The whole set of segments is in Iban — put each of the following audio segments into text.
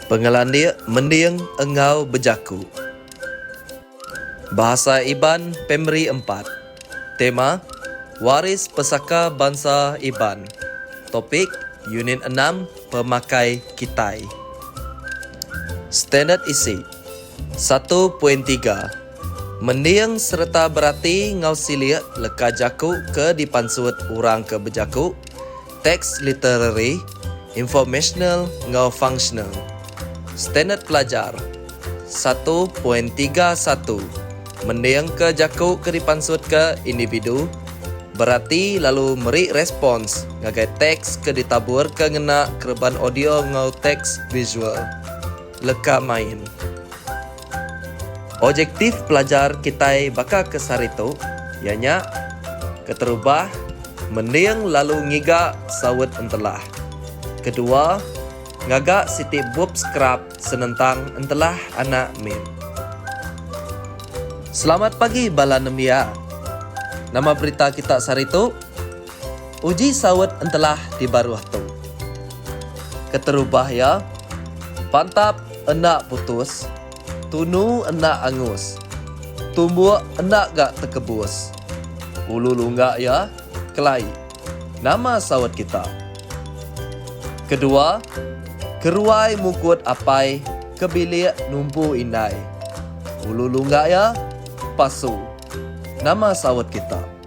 Pengelandik mending enggau bejaku. Bahasa Iban Primary Empat. Tema, Waris Pesaka Bansa Iban. Topik, Unit Enam, Pemakai Kitai. Standard Isi. Satu poin tiga. Mending sereta berati enggau silik leka jaku ke dipansut orang ke bejaku, teks literari, informasional enggau fungsional. Standard Pelajar satu poin tiga satu Mendingka jaku ke dipansutka individu, berati lalu meri respons ngagai teks ke ditaburka ngena kereban audio enggau teks visual. leka main. Objektif pelajar kitai baka ke sehari tu iya nya keterubah mending lalu ngiga saut entelah. Kedua, ngaga siti bup skrap senentang entelah anak min. Selamat pagi bala nembiak. Nama berita kita sehari tu? Uji saut entelah di baruh tu. Keterubah iya, pantap enda putus, tunu enda angus, tumbuk enda ga tekebus. Ulu lungga iya, kelai. Nama saut kita? Kedua, keruai mukut apai ke bilik numpu indai. Ulu lungga iya, pasu. Nama saut kita?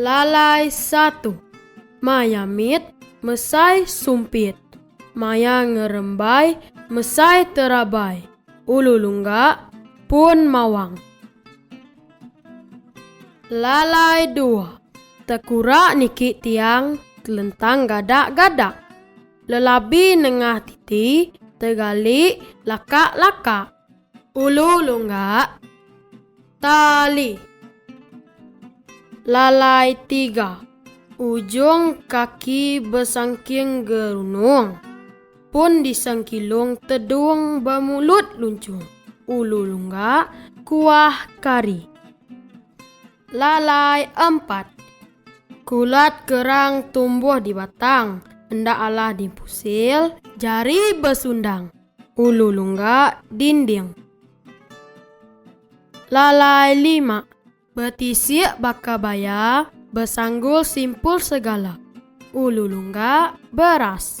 Lalai satu. Maya mit mesai sumpit. Maya ngerembai mesai terabai. Ulu lungga pun mawang. Lalai dua. Tekura niki tiang telentang gadak-gadak. Lelabi nengah titi tegali lakak-lakak. Ulu lunggak tali. Lalai tiga. Ujung kaki besangking gerunung. Pun disangkilung tedung bemulut luncung. Ulu lunggak kuah kari. Lalai empat. Kulat kerang tumbuh di batang. Enda alah dipusil, jari besundang. Ulu lungga dinding. Lalai lima. Betisik baka baya, besanggul simpul segala. Ulu lungga beras.